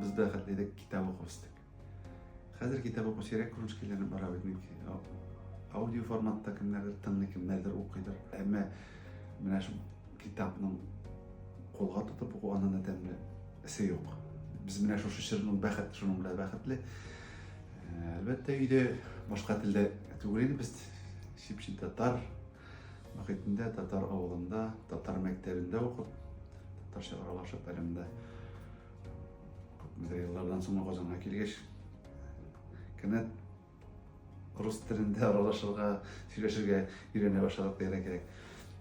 Без дә хәтле идек, китап укып үстек. Хәзер китап укып сирәк күренеш килгәнен бара бит мөмкин. Аудио форматта кемнәрдер тыңлый, кемнәрдер укыйдыр. Әмма менә шул китапның кулга тотып уку аннан да тәмле. Эсе юк. Без менә шушы чорның бәхет, шуның белән бәхетле. Әлбәттә, өйдә башка телдә түгел иде без чипчи татар мөхитендә, татар авылында, татар мәктәбендә укып, татарча аралашып, әле монда күпмедер еллардан соң Казанга килгәч, кинәт Рус телендә аралашырга, сөйләшергә өйрәнә башладык дигән кирәк.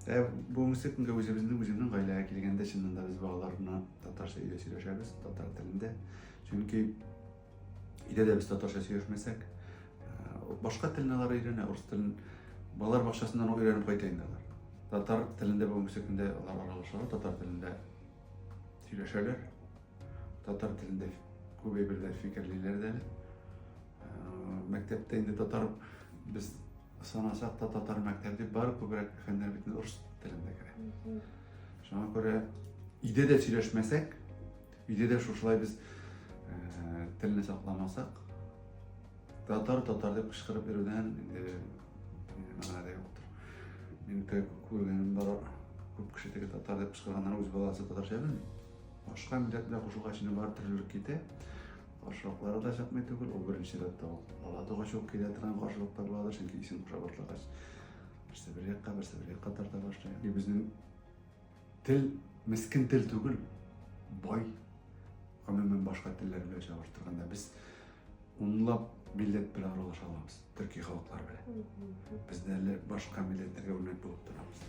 Ә бүгенге көнгә үзебезнең үземнең гаиләгә килгәндә чыннан да без балалар белән татарча өйдә сөйләшәбез, татар телендә. Чөнки өйдә дә без татарча сөйләшмәсәк, башка телне алар өйрәнә, рус телен балалар бакчасыннан өйрәнеп кайта инде алар. Татар телендә бүгенге көндә алар аралашалар, татар телендә сөйләшәләр, татар телендә күбәй берләр фикерлиләр дә әле. мәктәптә инде татар без санасак та татар мәктәбе дип бары күбрәк фәннәр бит рус телендә керә шуңа күрә өйдә дә сөйләшмәсәк өйдә дә шушылай без телне сакламасак татар татар дип кычкырып йөрүдән инде мәгънә дә юктыр мин күргәнем бар күп кеше теге татар дип кычкырганнар үз баласы татарча белми башка милләт белән кушылгач бар төрлелек китә Каршылыклары да чыкмый түгел, ул беренче рәттә ул. Бала тугач ук килә торган каршылыклар буладыр, чөнки исем куша башлагач, берсе бер якка, берсе бер якка тарта башлый. И безнең тел мескен тел түгел, бай. Гомумән башка телләр белән чагыштырганда без унлап милләт белән аралаша алабыз, төрки халыклар белән. Без әле башка милләтләргә үрнәк булып торабыз.